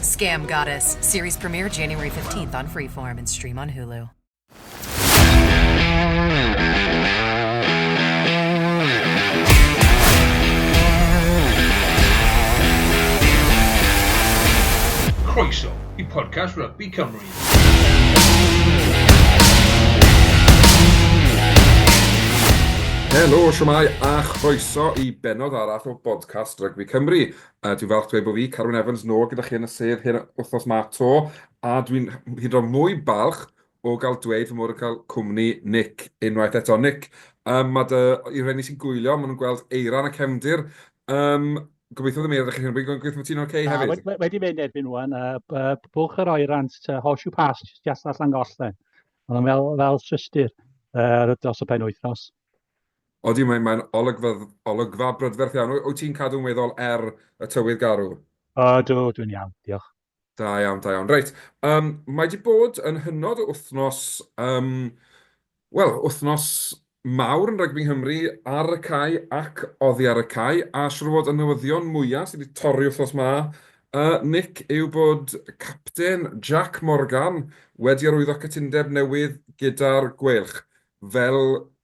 Scam Goddess, series premiere January 15th on Freeform and stream on Hulu. Croeso i podcast Rugby Cymru. Helo, siwmai a chroeso i benod arall o Bodcast Rygbi Cymru. A dwi'n falch dweud bod fi, Carwyn Evans, nôl gyda chi yn y sedd hyn wythnos ma 'to, a dwi'n hyd yn oed mwy balch o gael dweud fy mod yn cael cwmni Nick unwaith eto. Nick, um, mae dy, i reni sy'n gwylio, maen nhw'n gweld eiran a cefndir. Um, gobeithio ddim eira chi hyn, gobeithio bod ti'n oce okay hefyd. Wedi, wedi mynd erbyn nhw'n, uh, bwch yr oeran, uh, horseshoe pass, just allan gollen. Ond fel, fel systir uh, dros y pen wythnos. Odi, mae'n mae'n olygfa olygfa brydferth iawn. Wyt ti'n cadw'n weddol er y tywydd garw? O, do, dwi'n iawn, diolch. Da iawn, da iawn. Reit, um, mae di bod yn hynod o wythnos, um, wel, wythnos mawr yn rygbi Nghymru ar y cae ac oddi ar y cae, a siwr fod y newyddion mwyaf sydd wedi torri wythnos ma, uh, Nick, yw bod capten Jack Morgan wedi arwyddo cytundeb newydd gyda'r Gweilch. fel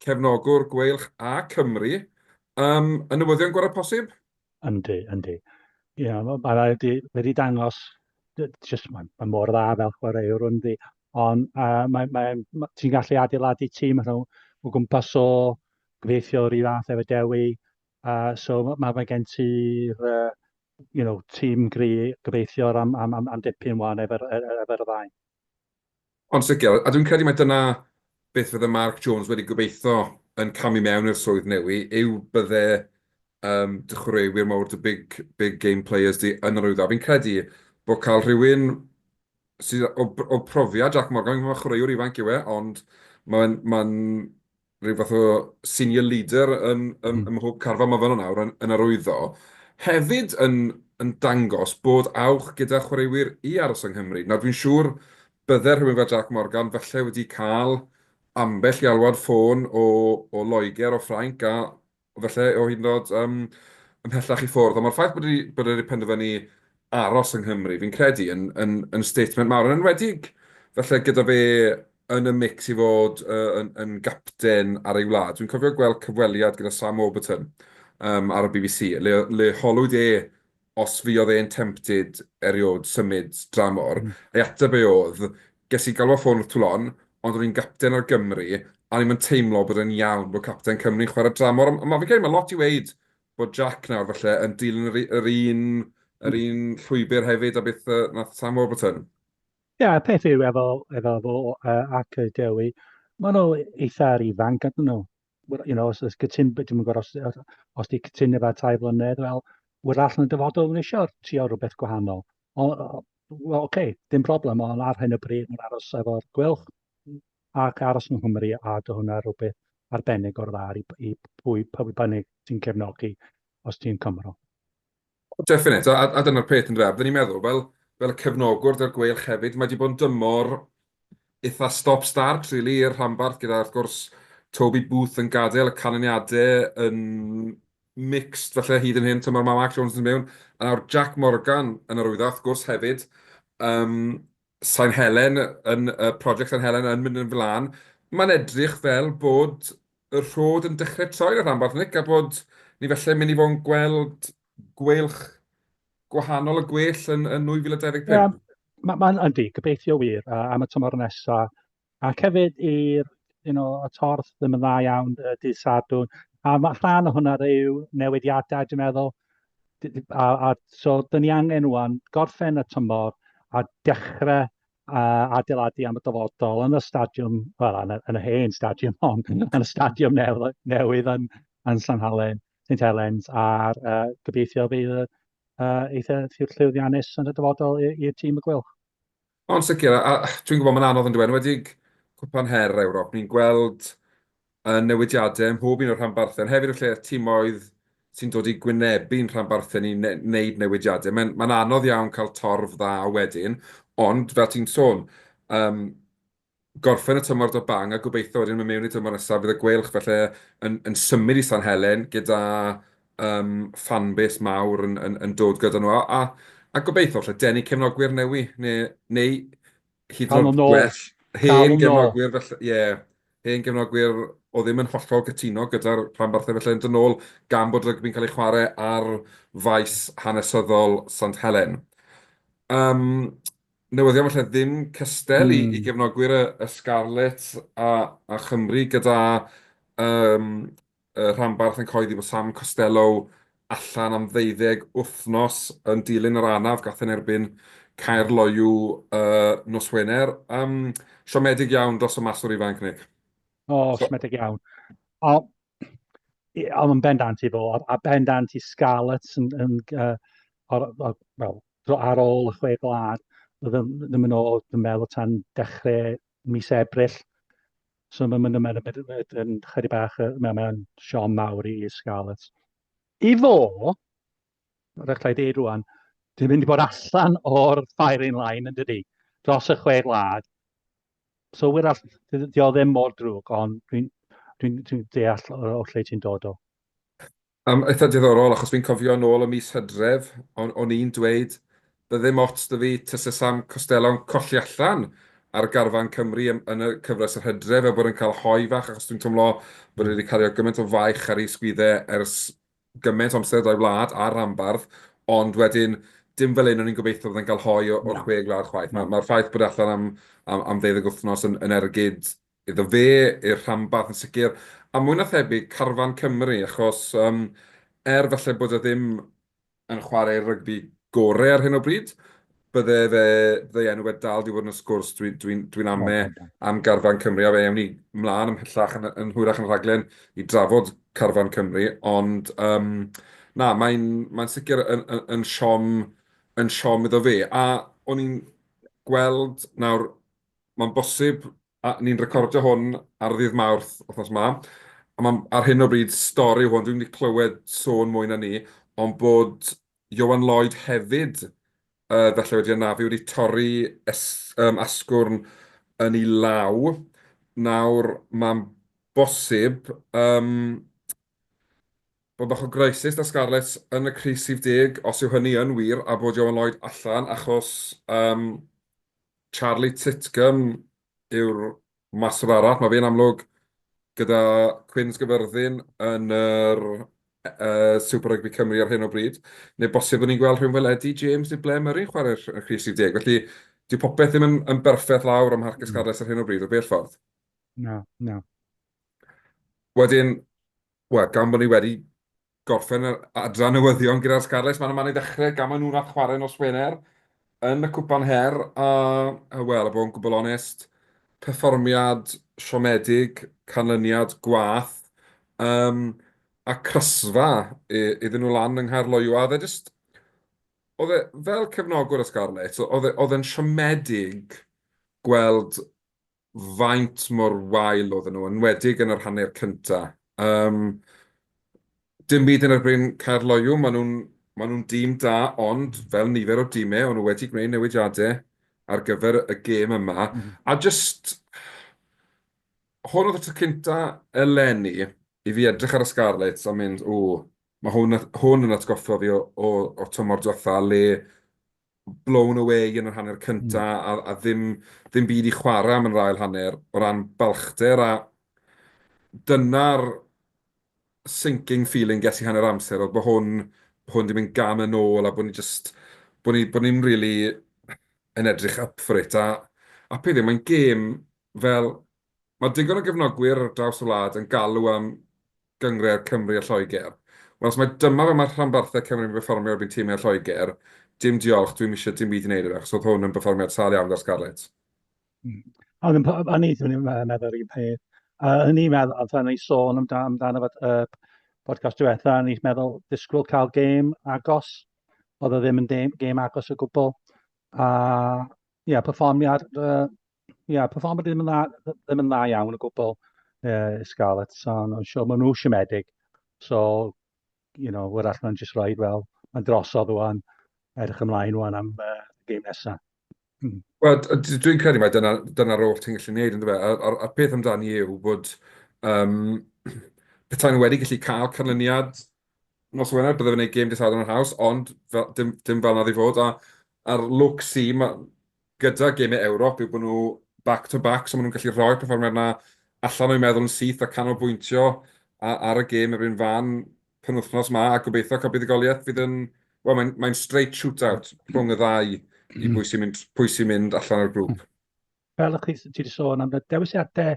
cefnogwr Gweilch a Cymru yym y newyddion gorau posib? Yndi, yndi. Ia, ma' ma' raid i wedi dangos d- jyst ma' ma' mor dda fel chwaraewr yndi. Ond uh, mae, mae, ma- ti'n gallu adeiladu tîm allan o o gwmpas o gweithio yr un fath efo Dewi. Uh, so mae ma' mae gen ti'r uh, you know, tîm gri gobeithiwr am, am, am, am dipyn wan efo'r e- e- efo'r ddau. Yn sicr, a dwi'n credu mai dyna beth fydde Mark Jones wedi gobeithio yn camu mewn i'r swydd newi, yw bydde yym dy chwaraewyr mawr, dy big, big game players di yn yr Wyddfa. Fi'n credu bod cael rhywun sydd o, o profiad Jac Morgan, fi'n gwybod chwaraewr ifanc yw e, ond mae'n, mae'n, rhyw fath o senior leader ym mhob carfan mae fan'na nawr yn arwyddo, hefyd yn dangos bod awch gyda chwaraewyr i aros yng Nghymru. Nawr, dwi'n siŵr bydde rhywun fel Jac Morgan falle wedi cael ambell i alwad ffôn o Loegr, o Ffrainc, a falle o hyd yn oed yym ymhellach i ffwrdd, ond mae'r ffaith bod ni, bod wedi penderfynu aros yng Nghymru, fi'n credu, yn, yn, yn statement mawr, yn enwedig falle gyda fe yn y mix i fod uh, yn, yn gapten ar ei wlad. Dwi'n cofio gweld cyfweliad gyda Sam Warburton um, ar y BBC, le, le holwyd e os fuodd e'n tempted eriod symud dramor, ei ateb e oedd, Ges i galw ar ffôn wrth Toulon, ond o'n i'n gapten ar Gymru, a o'n i'm yn teimlo bod e'n iawn bod capten Cymru'n chwarae dramor, ond ma' fi'n credu ma' lot i weud bod Jack nawr falle yn dilyn yr yr un yr un llwybr hefyd a beth yy nath Sam Warburton. Ie, yeah, y peth yw efo efo fo uh, ac y Dewi, maen nhw eitha'r ifanc ydyn nhw. Wel, you know, os oes cytun, dwi'n yn gwybod os, os di cytun efo tai flynedd, wel, wyr all yn dyfodol yn eisiau trio rhywbeth gwahanol. O, well, okay, dim problem, ond ar hyn o bryd mae'n aros efo'r gwylch ac aros yng Nghymru a dy hwnna rhywbeth arbennig o'r dda i, i pwy, pwy bynnag sy'n cefnogi os ti'n Cymro. Definite. A, a dyna'r peth yn dweud. Fydden ni'n meddwl, fel, fel y cefnogwr da'r gweilch hefyd, mae wedi bod yn dymor eitha stop-start, really, i'r rhanbarth, gyda, wrth gwrs, Toby Booth yn gadael y canlyniadau yn mixed, felly hyd yn hyn, tymor mae Mark Jones yn mewn, a nawr Jack Morgan yn arwyddo, wrth gwrs, hefyd. Um, San Helen, yn y project San Helen yn mynd yn flan, mae'n edrych fel bod y rhod yn dechrau troi yn y rhanbarth, Nick, a bod ni felle'n mynd i fod yn gweld gweilch gwahanol y gwell yn, yn 2025. Yeah. Mae'n ma yndi, gobeithio wir, uh, am y tymor nesaf, Ac hefyd i'r you know, y torth ddim yn dda iawn y dydd Sadwrn. A mae rhan o hwnna yw newidiadau, dwi'n meddwl. A, a so, dyn ni angen rwan gorffen y tymor a dechrau uh, adeiladu am y dyfodol yn y stadiwm, wel, yn, yn y hen stadiwm hon, yn y stadiwm newydd, newydd yn, yn San Halen, St Helens, a'r uh, gobeithio bydd y uh, eitha llwyddiannus yn y dyfodol i'r tîm y gwylch. Yn sicr, a dwi'n gwybod mae'n anodd yndyw e, yn enwedig Cwpan Her Ewrop, ni'n gweld newidiadau ym mhob un o'r rhanbarthau, ond hefyd y lle timoedd sy'n dod i gwynebu'n rhanbarthau ni wneud newidiadau. Mae'n mae'n anodd iawn cael torf dda wedyn, ond fel ti'n sôn, gorffen y tymor 'da bang a gobeithio wedyn mynd mewn i'r tymor nesaf fydd y Gweilch falle yn symud i San Helen gyda fan base mawr yn dod gyda nhw a gobeithio falle denu cefnogwyr newydd neu hyd yn oed gwell hen gefnogwyr falle, ie, hen gefnogwyr oedd ddim yn hollol gytuno gyda'r rhanbarthau falle yn dod nôl gan bod rygbi'n cael ei chwarae ar faes hanesyddol Sant Helen. Newyddion falle ddim cystel i gefnogwyr y Scarlets a Chymru gyda rhanbarth yn cyhoeddi bod Sam Costelow allan am ddeuddeg wythnos yn dilyn yr anaf gath yn erbyn Caerloyw nos Wener. Siomedig iawn dros y maswr ifanc, Nick. O, siomedig iawn. Ond yn bendant i fo, a, a bendant i Scarlets yn, yn, uh, or, or, well, ar ôl y chwe gwlad, oedd ddim yn ôl, dwi'n meddwl, tan dechrau mis Ebrill. So mae'n mynd yn mynd yn chydig bach, mae'n siom mawr i Scarlets. I fo, Mae'n rhaid i ddeud rwan, dwi'n mynd i bod allan o'r firing line yn dydy, dros y chwe gwlad. So wir all, di o ddim mor drwg, ond dwi'n dwi, dwi deall o lle ti'n dod o. Um, eitha diddorol, achos fi'n cofio yn ôl y mis hydref, o'n, on i'n dweud, byddym ots dy fi tysa Sam Costello'n colli allan ar garfan Cymru yn, yn y cyfres yr hydref, a bod yn cael hoi fach, achos dwi'n teimlo bod wedi cario gymaint o faich ar ei sgwydde ers gymaint o amser da'i wlad a'r rhanbarth, ond wedyn, dim fel hyn o'n i'n gobeithio bod e'n cael hoi o'r chwe gwlad chwaith. Mae'r ma ffaith bod e allan am, am, am ddeuddeg wythnos yn, yn ergyd iddo fe, i'r rhanbarth yn sicr, a mwy na thebyg carfan Cymru, achos um, er falle bod e ddim yn chwarae rygbi gorau ar hyn o bryd, bydde fe, bydde enw fe dal di fod yn y sgwrs, dwi'n dwi, dwi, dwi ame am garfan Cymru, a fe ewn ni mlaen ymhellach yn, yn hwyrach yn rhaglen i drafod carfan Cymru, ond um, na, mae'n mae sicr yn, yn, yn siom yn siom iddo fe, a o'n i'n gweld nawr, mae'n bosib, a ni'n recordio hwn ar ddydd mawrth othnos ma, a mae ar hyn o bryd stori hwn, dwi'n wedi clywed sôn mwy na ni, ond bod Ioan Lloyd hefyd falle wedi anafu, wedi torri asgwrn yn ei law. Nawr, mae'n bosib bod bach o greisys 'da Scarlets yn y crys rhif deg, os yw hynny yn wir, a bod Ioan Lloyd allan achos Charlie Titcomb yw'r Mater arall, mae fe'n amlwg gyda Quins Gyfyrddin yn yr Super Rugby Cymru ar hyn o bryd, neu bosib byddwn ni'n gweld rhywun fel Eddie James neu Blair Murray'n chwarae'r crys 10. Felly, dyw popeth ddim yn, yn berffaith lawr am Harcus Carles ar hyn o bryd, o bell ffordd. Na, na. Wedyn, Wel, gan bod ni wedi gorffen yr adran newyddion gyda'r Scarlets, maen nhw'n mynd i ddechrau gamau nhw nath chwarae nos Wener yn y Cwpan Her, a, a wel, a bod yn gwbl onest, perfformiad siomedig, canlyniad gwath, um, a crysfa iddyn nhw lan yng Nghaerloyw, a oedd e jyst, oedd e fel cefnogwr y Scarlets, oedd e, oedd e'n siomedig gweld faint mor wael oedden nhw, yn enwedig yn yr hanner cynta. Yym, dim byd yn erbyn Caerloyw, maen nhw'n maen nhw'n dîm da, ond fel nifer o dîmau, o'n nhw wedi gwneud newidiadau ar gyfer y gêm yma. Mm. A just... Hwn oedd y tro cynta eleni i fi edrych ar y Scarlets a mynd, ww, mae hwn, hwn yn atgoffa fi o, o, o tymor diwetha le blown away yn yr hanner cynta a, a ddim, ddim byd i chwarae am yn yr ail hanner o ran balchder a dyna'r sinking feeling ges i hanner amser oedd bod hwn, bod hwn di mynd gan yn ôl a bod ni just, bod ni, bod ni'n really yn edrych up for it a, a peth yw, mae'n gêm fel, mae digon o gefnogwyr ar draws y wlad yn galw am gyngred Cymru a Lloegr. Wel os mae dyma fel mae rhanbarthau Cymru yn perfformio erbyn timau Lloegr, dim diolch, dwi'm eisiau dim byd i wneud â fe, achos oedd hwn yn berfformiad sâl iawn gyda'r Scarlets. Mm. O'n i'n o'n i ddim yn meddwl yr un peth. A o'n i'n meddwl, oedd o'n ei sôn amdano, amdano fod y podcast diwetha, o'n i'n meddwl disgwyl cael gêm agos. Oedd o ddim yn gêm agos o gwbl. A ie, yeah, perfformiad uh, Ia, perfformiad ddim yn dda, ddim yn dda iawn o gwbl uh, Scarlett, so no, sure, maen nhw siomedig. So, you know, wrach mae'n just rhaid, wel, mae'n drosodd o'n edrych ymlaen o'n am uh, game nesaf. Hmm. Wel, dwi'n credu mae dyna'r dyna, dyna oll ti'n gallu gwneud, ynddo fe? A'r, a'r, a'r peth amdani yw bod um, petai nhw wedi gallu cael canlyniad nos Wener, byddai fe'n gwneud game dydd Sadwrn yn haws, ond fel, dim, dim fel nad i fod. A, a'r look si, mae gyda gemau Ewrop yw bod nhw back to back, so maen nhw'n gallu rhoi'r perfformiad 'na allan o'u meddwl yn syth a canolbwyntio ar y gêm yr un fan penwythnos 'ma, a gobeithio cael buddugoliaeth fydd yn... wel, mae'n mae'n straight shootout rhwng y ddau i bwy sy'n mynd pwy sy'n mynd allan o'r grŵp. Fel o'ch chi, ti wedi sôn am y dewisiadau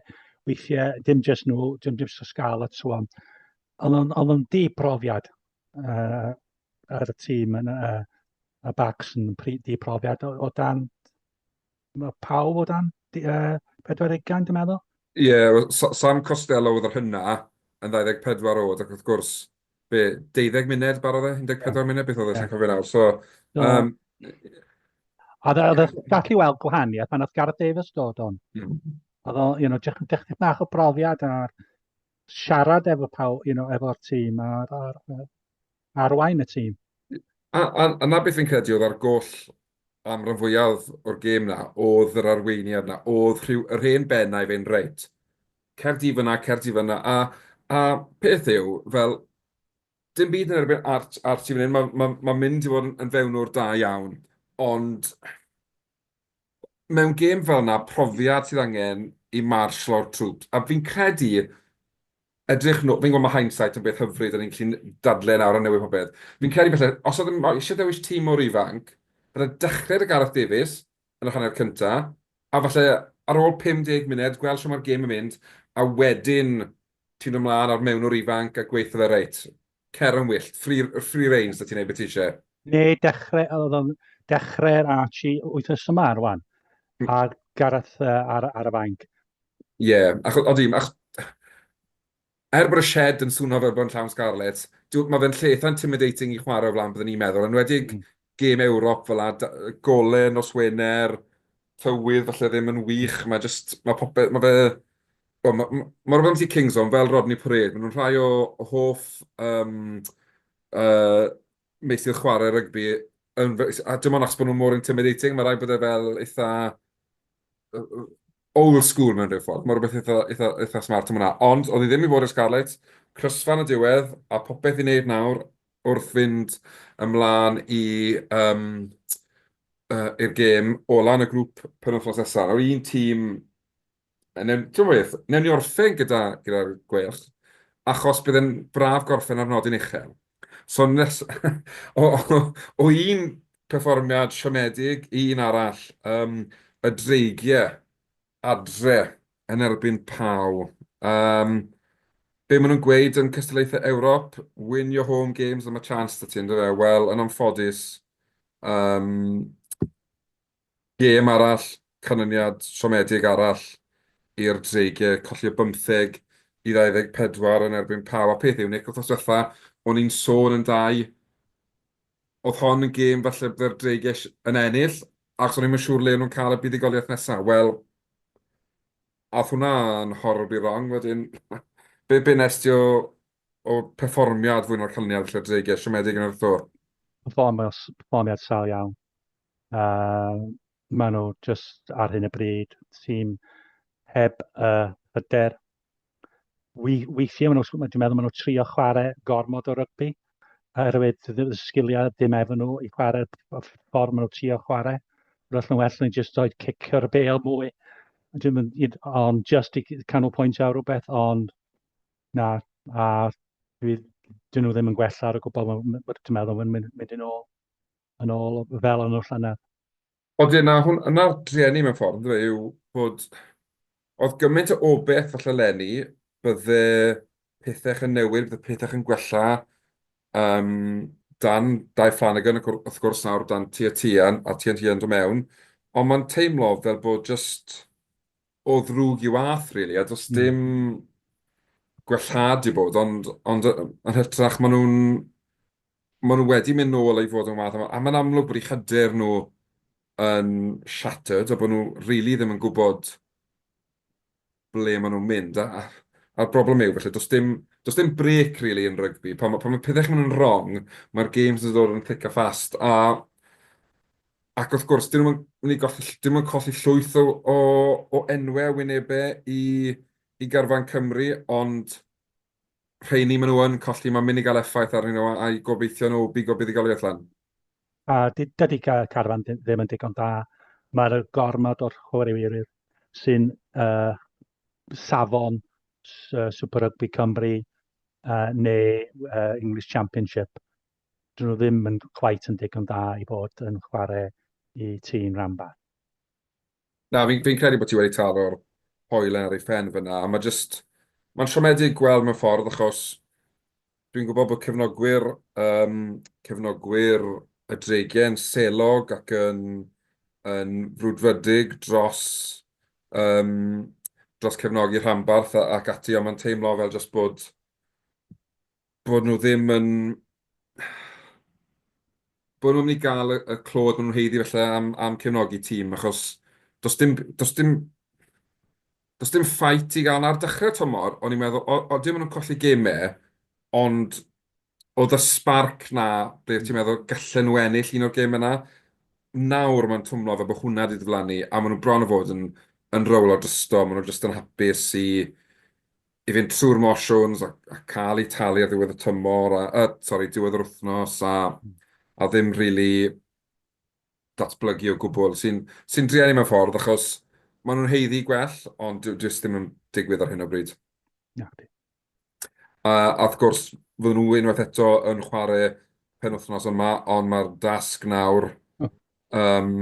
weithiau, dim jyst nhw, dim jyst y sgal a so on. Ond o'n, o'n, o'n di profiad uh, ar y tîm yn, uh, Mae Bax yn di profiad o, o dan... Mae pawb o dan uh, 40 ugain, dwi'n meddwl? Ie, yeah, Sam Costello oedd yr hynna, yn 24 oed, ac wrth gwrs, be, 12 munud barodd e, 14 yeah. munud, beth oedd e, yeah. cofio nawr. So, so um, oedd e, oedd e gallu weld gwahaniaeth pan oedd Gareth Davies dod o'n. Mm. Oedd o, you know, dechrau bach o brofiad ar siarad efo pawb, you know, efo'r tîm, a'r, ar, arwain y tîm. A, a, a 'na beth fi'n credu oedd ar goll am ran fwyaf o'r gêm 'na, oedd yr arweiniad 'na, oedd rhyw, yr hen bennau fe'n reit, cer di fyna, cer di fyna, a, a peth yw, fel, dim byd yn erbyn Art, Art i fan hyn, mae'n ma, ma mynd i fod yn, yn fewnwr da iawn, ond mewn gêm fel yna, profiad sydd angen i marshal o'r troops, a fi'n credu, edrych nôl, fi'n gwybod mae hindsight yn beth hyfryd, a ni'n gallu dadle nawr a newid popeth. Fi'n credu falle, os oedd yn eisiau dewis tîm mor ifanc, byddai dechrau 'da Gareth Davies yn yr hanner cynta, a falle ar ôl 50 munud, gweld shwt mae'r gêm yn mynd, a wedyn ti'n dod mlaen a'r mewnwr ifanc a gweithio fe reit. Cer yn wyllt. Free, free reign, so ti'n neud beth ti eisiau. Neu dechrau, oedd o'n dechrau'r Archie wythnos yma ar wan. Hmm. A Gareth uh, ar, ar y fainc. Ie, yeah, ac oedd dim, ac... Er bod y shed yn swnio fel bod yn llawn Scarlets, mae fe'n lleith intimidating i chwarae o flaen byddwn ni'n meddwl, yn wedig mm. gêm Ewrop fel a gole nos Wener, tywydd falle ddim yn wych, mae jyst, mae popeth, mae fe, wel, mae, mae, mae rhywbeth am Kings on, fel Rodney Parade, maen nhw'n rhai o, o hoff um, uh, meisydd chwarae rygbi, yn, a dim ond achos bod nhw'n mor intimidating, mae rhaid bod e fel eitha uh, old school mewn rhyw ffordd, mae rhywbeth eitha, eitha, eitha smart yma. Ond, oedd hi ddim i fod i'r Scarlets, crysfan y diwedd, a popeth i wneud nawr wrth fynd ymlaen i yym yy i'r gêm ola yn y grŵp penwythnos nesa. Nawr un tîm yy newn t'mo' beth? Newn ni orffen gyda gyda'r Gweilch achos bydd e'n braf gorffen ar nodyn uchel. So nes- o o o un perfformiad siomedig i un arall, yym y Dreigie adre yn erbyn Pau. Yym, be maen nhw'n gweud yn cystadlaethau Ewrop, win your home games a ma' chance 'da ti yn dyfe? Wel, yn anffodus, yym, gêm arall, canlyniad siomedig arall i'r Dreigiau, colli o 15 i 24 yn erbyn Pau. A peth yw, Nick, wythnos diwetha, o'n i'n sôn yn da i, oedd hon yn gêm falle bydde'r Dreigiau yn ennill, Achos o'n i'm yn siŵr le o'n nhw'n cael y buddugoliaeth nesaf. Wel, aeth hwnna'n horribly wrong wedyn. Be, be wnes ti o, o perfformiad fwy na'r canlyniad felly o'r dreigiau siomedig yn yr Tour? Perfformiad, perfformiad sal iawn. Uh, maen nhw just ar hyn y bryd, tîm heb y uh, hyder weithiau maen nhw, dwi'n meddwl maen nhw trio chwarae gormod o rygbi, oherwydd y sgiliau dim efo nhw i chwarae ffordd maen nhw trio chwarae. Roedd nhw'n well nhw'n just oed cicio'r bel mwy. Ond just i canolbwynt ar rhywbeth, ond na, a dwi, dyn nhw ddim yn gwella ar y gwbl, dwi'n meddwl, mae'n mynd yn ôl, yn ôl fel yn y llynedd. Odi, a 'na hwn, 'na'r drueni mewn ffordd, yndyfe, yw bod... oedd gymaint o obeth falle 'leni, bydde pethech yn newid, bydde pethech yn gwella, yym, dan Dai Flanagan, ac wrth gwrs nawr dan Tia Tian, a Tia Tian do mewn, ond mae'n teimlo fel bod jyst o ddrwg i wath, rili, a does dim gwellhad 'di bod, ond, ond, yn hytrach, maen nhw'n Maen nhw wedi mynd nôl i fod yn wath, a mae'n amlwg bod eu hyder nhw yn shattered, a bod nhw rili ddim yn gwybod ble maen nhw'n mynd, a'r broblem yw, falle, does dim, does dim brêc rili yn rygbi, pan mae pethau'n mynd yn wrong, mae'r games yn dod yn thick a fast, a ac wrth gwrs, dyn nhw'm yn mynd i golli, dyn nhw'm yn colli llwyth o o o enwau a wynebau i i garfan Cymru, ond rheini maen nhw yn colli, mae'n mynd i gael effaith arnyn nhw a'i gobeithio nhw bigo buddugoliaeth lan. A dydy Carfan ddim yn digon da. Mae'r gormod o'r chwaraewyr sy'n uh, safon uh, Super Rugby Cymru uh, neu uh, English Championship. Dyn nhw ddim yn cwait yn digon da i bod yn chwarae i tîm ranbarth. Na, fi'n fi credu bod ti wedi taro'r hoelen ar ei phen fyna, a mae jyst... Mae'n siomedig gweld mewn ffordd, achos dwi'n gwybod bod cefnogwyr um, cefnogwyr y Dregen selog ac yn, yn frwdfrydig dros, um, dros cefnogi rhanbarth ac ati, ond mae'n teimlo fel jyst bod bod nhw ddim yn... bod nhw'n mynd i gael y y clod maen nhw'n haeddu falle am am cefnogi tîm, achos does dim does dim does dim ffait i gael 'na. Ar dechrau'r tymor, o'n i'n meddwl, o- odyn maen nhw'n colli gemau, ond oedd y spark 'na ble ti'n meddwl gallen nhw ennill un o'r gemau 'na. Nawr mae'n twmlo fel bod hwnna 'di diflannu, a maen nhw bron a bod yn yn rowlo drosto, maen nhw jyst yn hapus i i fynd trwy'r motions a, a cael eu talu ar ddiwedd y tymor, a, a sorry, diwedd yr wythnos, a, a ddim rili really datblygu o gwbl, sy'n sy drian i mewn ffordd, achos maen nhw'n heiddi gwell, ond dyw jyst ddim yn digwydd ar hyn o bryd. Na, di. A, a wrth gwrs, fydden nhw unwaith eto yn chwarae pen wythnos yma, ond mae'r dasg nawr... Oh. Um,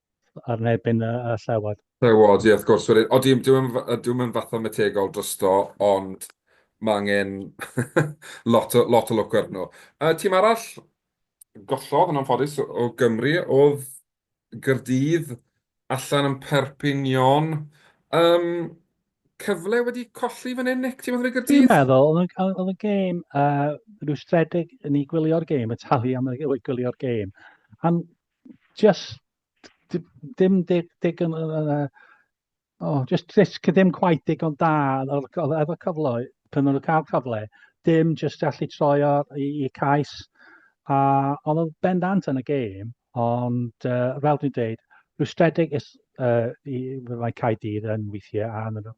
ar nerbyn y llewod. Llewod, ie wrth gwrs. Wedyn, odi, dyw e'm f- dyw e'm yn fathemategol drosto, ond ma' angen lot o lot o lwc arnyn nhw. Y tîm arall gollodd yn anffodus o Gymru o'dd Gaerdydd allan yn Perpignan. Yym, cyfle wedi colli fan 'yn Nick, ti'n meddwl i Gaerdydd? Dwi'n meddwl, oedd yn, oedd yn gêm uh, rhyw stredig yn ei gwylio'r gêm, y talu am ei gwylio'r gêm. Am just dim dig, dig yn, uh, oh, just, just ddim quite digon da efo cyfle, pan nhw'n cael cyfle, dim just allu troi o'r i, i cais. A oedd o'n bendant yn y gêm, ond uh, fel dwi'n dweud, rwystredig is, uh, i, mae cael dydd yn weithiau a,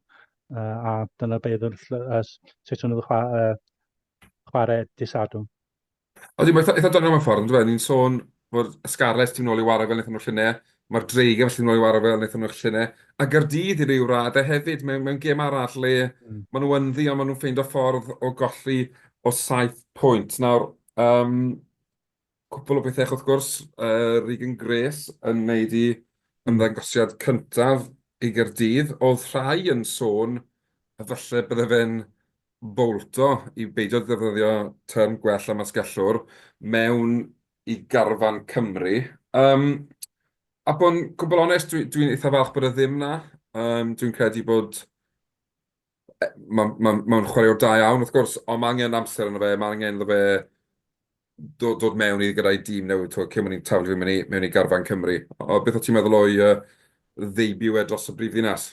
uh, a dyna beth yn uh, sut nhw'n chwarae, uh, chwarae disadwn. Odi, mae'n eitha doniol mewn ffordd, yndyfe. Ni'n sôn bod y Scarlets 'di mynd nôl i wara' fel wnaethon nhw'r llynedd, mae'r Dreigiau falle 'di mynd nôl i wara' fel wnaethon nhw'r llynedd, a Gaerdydd i ryw raddau hefyd, mewn, mewn gêm arall le maen nhw ynddi, ond maen nhw'n ffeindio ffordd o golli o saith pwynt. Nawr, um, cwpl o bethau, wrth gwrs, uh, Regan Grace yn wneud i ymddangosiad cyntaf i Gaerdydd. Oedd rhai yn sôn y falle bydde fe'n fowlto i beidio defnyddio term gwell am asgellwr mewn i garfan Cymru. Um, a bod yn gwbl onest, dwi'n dwi, dwi eitha falch bod e ddim na. Um, dwi'n credu bod e, mae'n ma, ma, ma chwaraewr da iawn, wrth gwrs, ond mae angen amser yna fe, mae angen iddo fe dod, dod mewn i gyda'i dîm newydd, twa, cyn mwyn i'n taflu mewn i, mewn i garfan Cymru. O, beth o ti'n meddwl o'i uh, ddeibio e dros y brif ddinas?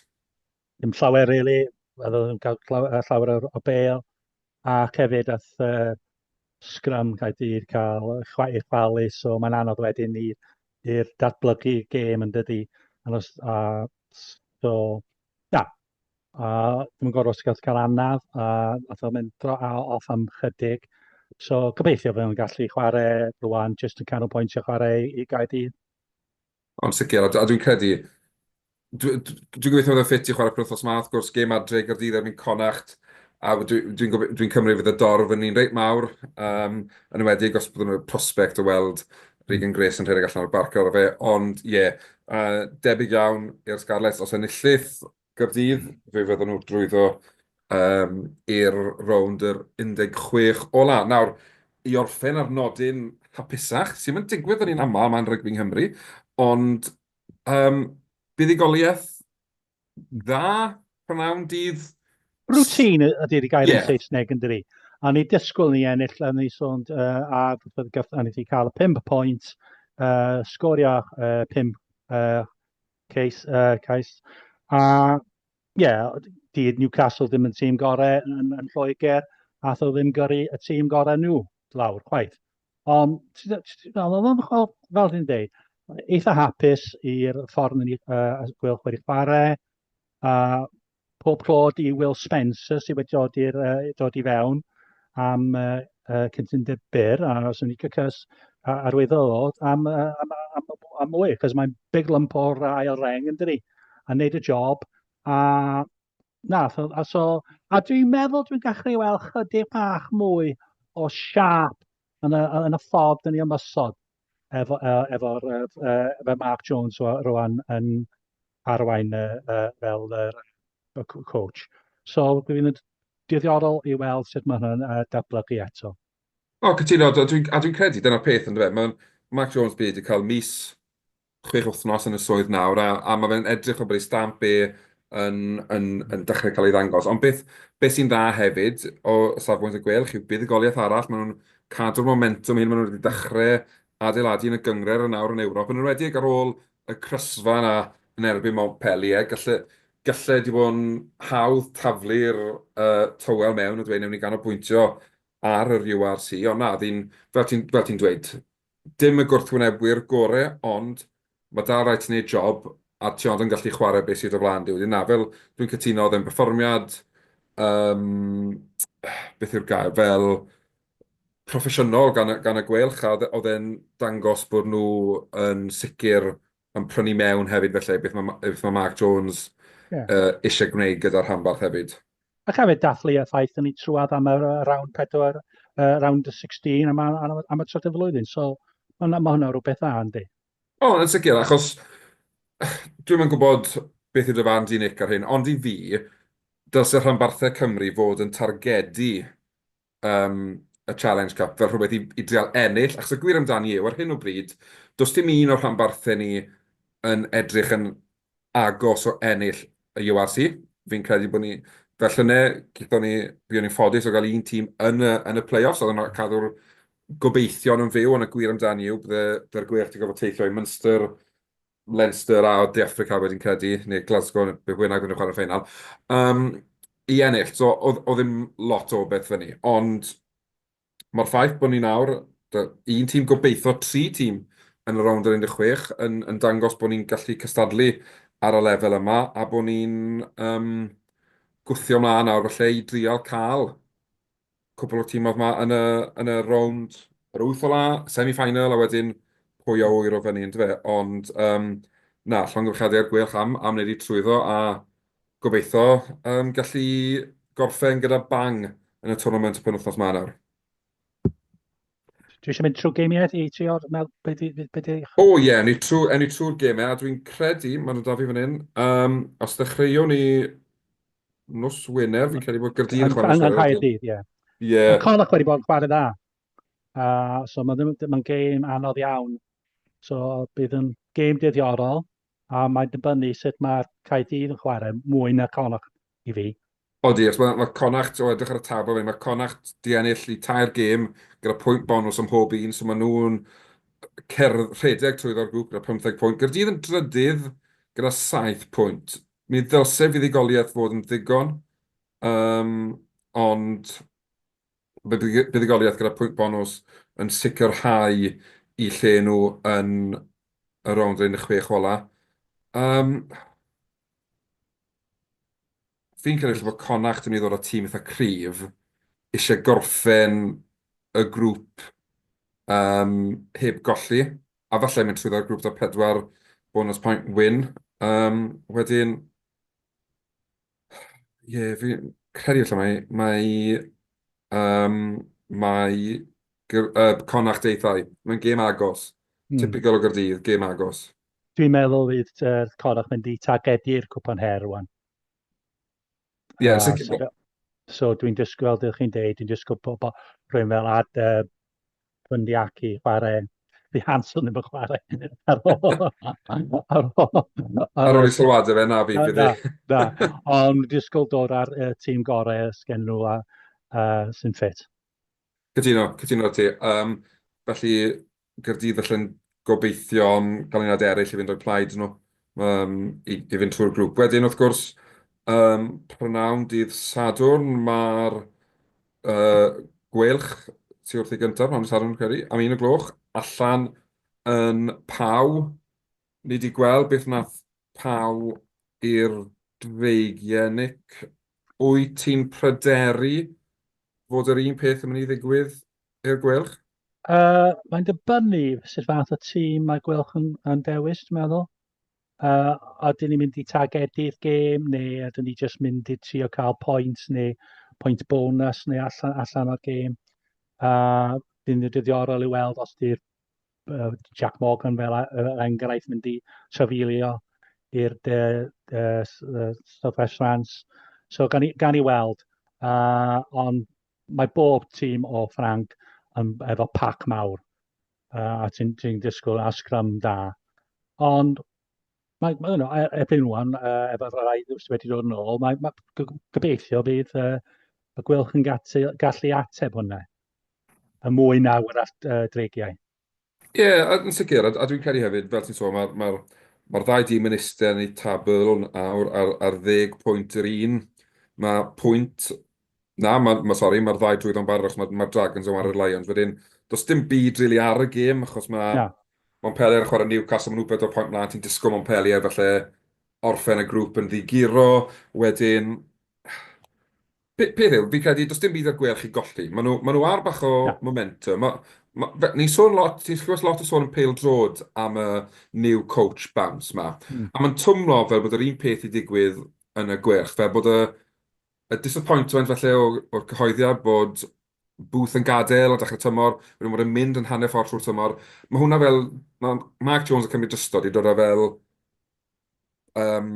Dim llawer really, oedd yn cael llawer o bel, ac hefyd ath uh, Scrum Caerdydd cael chwaith chwalu, so mae'n anodd wedyn i'r datblygu gêm yn dydy. Os, a, so, na, a dwi'n gorfod os gael cael anaf, a nath o'n mynd dro a off am chydig. So gobeithio fe o'n gallu chwarae rwan, jyst yn canol pwyntio chwarae i Gaerdydd. Yn sicr, a dwi'n credu... Dwi'n gobeithio bod e'n ffit i chwarae penwythnos ma, wrth gwrs, gêm adre i Gaerdydd erbyn Connacht, a dwi'n cymryd fydd y dorf yn un reit mawr, yn enwedig os bydden nhw'n prospect o weld Regan Grace yn rhedeg allan o'r barc ar ôl fe, ond ie, debyg iawn i'r Scarlets os enillith, Gaerdydd, fe fyddan nhw drwyddo yym i'r rownd yr 16 ola'. Nawr, i orffen ar nodyn hapusach, sy ddim yn digwydd yn un aml, mae'n rygbi Nghymru, ond yym buddugoliaeth dda, prynhawn dydd? Routine ydy'r gair yn Saesneg yn dydi? A ni dysgwyl ni ennill, a ni sôn uh, a gath, a ni wedi cael y 5 pwynt, uh, sgorio uh, 5 uh, Cais, uh, cais. A, ie, yeah, di Newcastle ddim yn tîm gorau yn, yn Lloegr, a tho ddim gyrru y tîm gorau nhw lawr, chwaith. Ond, fel dwi'n dweud, eitha hapus i'r ffordd yn uh, gwyl chwarae chwarae, a Pob clod i Will Spencer sydd wedi dod, i'r, uh, dod i fewn am uh, uh, cytundeb byr a os yn licio cys arwyddodd am, uh, am, am, am, am mwy, cos mae'n big lump o'r ail reng yn dydi, a wneud y job, a na, so, a, so, a dwi'n meddwl dwi'n gallu weld chydig bach mwy o siap yn y, yn y ffordd dyn ni ymwysod. efo efo efo Mark Jones rwan yn arwain y y fel yr y c- coach. So dwi fydd yn diddorol i weld sut ma' hwnna'n yy datblygu eto. O cytuno a dwi'n a dwi'n credu dyna'r peth yndyfe ma'n Mark Jones bydd wedi cael mis chwech wythnos yn y swydd nawr, a, a mae fe'n edrych o bod ei stamp e yn, yn, yn dechrau cael ei ddangos. Ond beth, beth sy'n dda hefyd o safbwynt y gwelch yw buddugoliaeth arall, maen nhw'n cadw'r momentum hyn, maen nhw wedi dechrau adeiladu yn y gyngred yn awr yn Ewrop, yn enwedig ar ôl y crysfa yna yn erbyn Montpellier, gallu, gallu wedi bod yn hawdd taflu'r uh, tywel mewn a dweud newn ni ganolbwyntio ar yr URC, ond na, fel ti'n ti dweud, Dim y gwrthwynebwyr gore ond ma dal rai ti neud job a ti ond yn gallu chware be sy o dy flan di wedyn na fel dwi'n cytuno odd e'n perfformiad yym beth yw'r gair fel proffesiynol gan y gan y gwêl ucha odd e odd e'n dangos bod nhw yn sicir yn prynu mewn hefyd felly beth ma ma beth ma Mark Jones yy isie gwneud gyda'r rhanbarth hefyd. Ac hefyd dathlu y ffaith dyn ni trwad am y round 4, uh, round 16 am, am, am y trydydd flwyddyn. So mae ma hwnna rhywbeth dda, yndi? O, yn sicr, achos dwi'n yn gwybod beth yw dy fan di, Nick, ar hyn, ond i fi, dylse rhanbarthau Cymru fod yn targedu yym, y Challenge Cup fel rhywbeth i i drial ennill, achos y gwir amdani yw, ar hyn o bryd, does dim un o'r rhanbarthau ni yn edrych yn agos o ennill y URC. Fi'n credu bod ni, fel llynedd, gaethon ni, buon ni'n ffodus o gael un tîm yn y yn y play-offs, oedd yn cadw'r gobeithion yn fyw, ond y gwir amdani yw, byddai'r Gweilch 'di gorfod teithio i Munster, Leinster a De Affrica wedyn credu, neu Glasgow neu beth bynnag oedden nhw'n chwarae'r ffeinal, yym, i ennill. So, oedd, oedd ddim lot o beth fyny. Ond mae'r ffaith bod ni nawr, un tîm gobeithio, tri tîm yn y rownd yr 16, yn, yn dangos bod ni'n gallu cystadlu ar y lefel yma, a bod ni'n yym, gwthio mlaen nawr falle i drial cael cwpl o'r tîmoedd 'ma yn y yn y rownd yr wyth ola, semi-final a wedyn pwy a ŵyr o fyny yndyfe? Ond yym na, llongyfarchiadau i'r Gweilch am am wneud eu trwyddo a gobeitho yym gallu gorffen gyda bang yn y twrnament y penwythnos 'ma nawr. Dwi eisiau mynd trwy gemiau i trio mel beth i... be di... O ie, yeah, ni trwy, ni trwy'r gemiau, a dwi'n credu, maen nhw da fi fan hyn, um, os ddechreuwn ni nos Wener, fi'n credu bod Gyrdydd yn chwarae nos Wener. Yn Caerdydd, ie. Ie. Mae Connacht wedi bod yn chwarae dda. Uh, so mae'n ma gêm anodd iawn. So bydd yn gêm dyddiorol. a mae'n dibynnu sut mae'r Caerdydd yn chwarae, mwy na Connacht i fi. Odi, achos mae, mae Connacht, o edrych ar y tabl fe, mae Connacht di ennill i tair gêm gyda pwynt bonws am mhob un, so maen nhw'n cerdd rhedeg trwyddo'r grŵp gyda 15 pwynt. Gaerdydd yn drydydd gyda 7 pwynt. Mi ddylse fuddugoliaeth fod yn ddigon, um, ond buddugoliaeth gyda pwynt bonws yn sicrhau eu lle nhw yn y rownd yn y chwech ola. Yym, fi'n credu falle bod Connacht yn mynd i ddod â tîm eitha cryf, isie gorffen y grŵp yym heb golli, a falle mynd trwyddo'r grŵp 'da pedwar bonws point win. Yym, wedyn, Ie, yeah, fi'n credu allan mae, mae, um, mae uh, Connacht deithau. Mae'n gêm agos. Mm. Typical o Gyrdydd, gêm agos. Dwi'n meddwl fydd uh, Connacht mynd i targedu'r cwpan her rwan. Ie, yeah, uh, so, so dwi'n dysgu, fel ydych chi'n deud, dwi'n dysgu pobl rhywun fel ad, uh, Bundyaki chwarae The Hanson yn fy chwarae ar ôl. ar ôl. Ar ôl i sylwada fe na fi, bydd e. Da, ond disgwyl dod ar y tîm gorau sgen nhw a uh, sy'n ffit. Cytuno, cytuno ti. Um, felly, Gyrdydd allan gobeithio am ganlyniadau eraill i fynd o'u plaid nhw yym i i fynd trwy'r grŵp. Wedyn wrth gwrs yym prynhawn dydd Sadwrn ma'r yy Gweilch tu wrth ei gynta, prynhawn dydd Sadwrn dwi'n credu, am un y gloch allan yn Pau. Ni 'di gweld beth nath Pau i'r Dreigie Nick. Wyt ti'n pryderu fod yr un peth yn mynd i ddigwydd i'r Gweilch? Uh, mae'n dibynnu sut fath o tîm mae Gweilch yn, yn dewis, dwi'n meddwl. Uh, a dyn ni'n mynd i targedu'r gêm, neu a dyn ni jyst mynd i trio cael pwynt, neu pwynt bonus, neu allan, allan o'r gêm. Uh, dyn ni'n dyddiorol i weld os di'r uh, Jack Morgan fel uh, enghraifft mynd i trafilio i'r uh, uh, Southwest France. So gan i, gan i weld, uh, ond mae bob tîm o Ffranc yn, efo pac mawr uh, a ti'n ti disgwyl a sgrym da. Ond mae, mae yno, e, erbyn rwan, uh, efo rai sydd wedi dod yn ôl, mae, mae gobeithio bydd uh, y gwylch yn gallu, gallu ateb hwnna. Y mwy na wrach uh, dreigiau. Ie, yn sicr. A dwi'n credu hefyd, fel ti'n sôn, mae'r ddau dîm yn eistedd yn eu tabl nawr ar ddeg pwynt yr un. Mae pwynt... Na, sori, mae'r ddau drwyddo yn barod achos mae'r Dragons yn chwarae'r Lions wedyn. Does dim byd rili ar y gêm achos mae Montpellier yn chwarae Newcastle, maen nhw bedwar pwynt mlaen, ti'n disgwyl Montpellier falle orffen y grŵp yn ddiguro. Wedyn, Pe- peth yw, fi'n credu, does dim byd ar gwelch i golli. Maen nhw, maen nhw ar bach o Na. momentum. Ma, ma, fe- ni'n sôn lot, ti'n clywed lot o sôn yn pêl drod am y new coach bounce ma. Mm. A mae'n twmlo fel bod yr un peth i digwydd yn y gwelch, fel bod y, y disappointment felly o, o'r cyhoeddiad bod Booth yn gadael a dechrau tymor, wedyn bod e'n mynd yn hanner ffordd trwy'r tymor. Mae hwnna fel, mae Mark Jones yn cymryd drystod i dod â fel yym,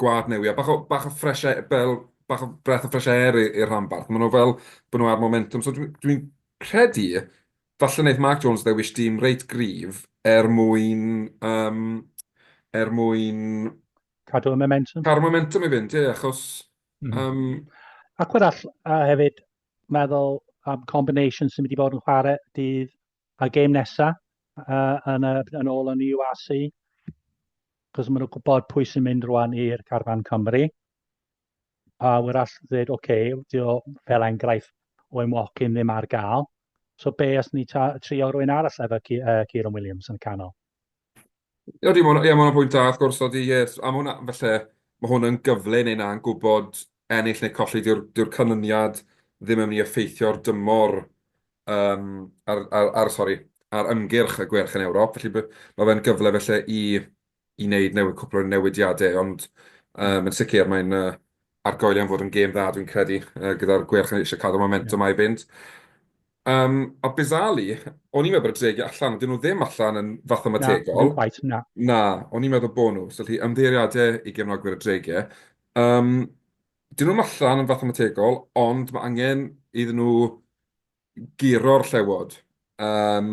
gwlad newydd, a bach o, bach o fresh air, fel, bach o breath of fresh air i'r rhanbarth. Maen nhw fel bod nhw ar momentum. So dwi'n dwi credu, falle wneud Mark Jones ddewis dîm reit gryf er mwyn, um, er mwyn... Cadw y momentum. Cadw y momentum i fynd, ie, achos... Mm -hmm. um, Ac arall, a hefyd, meddwl am combination sy'n mynd i fod yn chwarae dydd a'r gêm nesaf uh, yn, uh, yn ôl yn UAC, cos maen nhw'n gwybod pwy sy'n mynd rwan i'r carfan Cymru. A wyr all ddweud, oce, okay, dio fel enghraifft o Emwocyn ddim ar gael. So be os ni trio rwy'n arall efo uh, Kieran Williams yn canol? Ydy, ma' hwnna... ie, ma' hwnna'n bwynt da wrth gwrs, odi, ie. A ma' hwnna... falle ma' hwn yn gyfle i wneud 'na yn gwybod, ennill neu colli, dyw'r dyw'r canlyniad ddim yn mynd i effeithio ar dymor yym ar ar ar sori, ar ymgyrch y gwerch yn Ewrop. Felly b- ma' fe'n gyfle falle i i wneud new- cwpl o newidiadau, ond yym yn sicr mae'n yy ar goel iawn fod yn gêm dda dwi'n credu yy gyda'r Gweilch yn eisiau cadw'r momentum yeah. a'i fynd. Um, a Bizali, o'n i'n meddwl bod y dregi allan, dyn nhw ddim allan yn fath o mategol. Na, quite, na. Na, o'n i'n meddwl bod nhw, so lli ymddeiriadau i gefnogwyr y dregi. Um, dyn nhw'n allan yn fath o mategol, ond mae angen iddyn nhw guro'r Llewod, yym,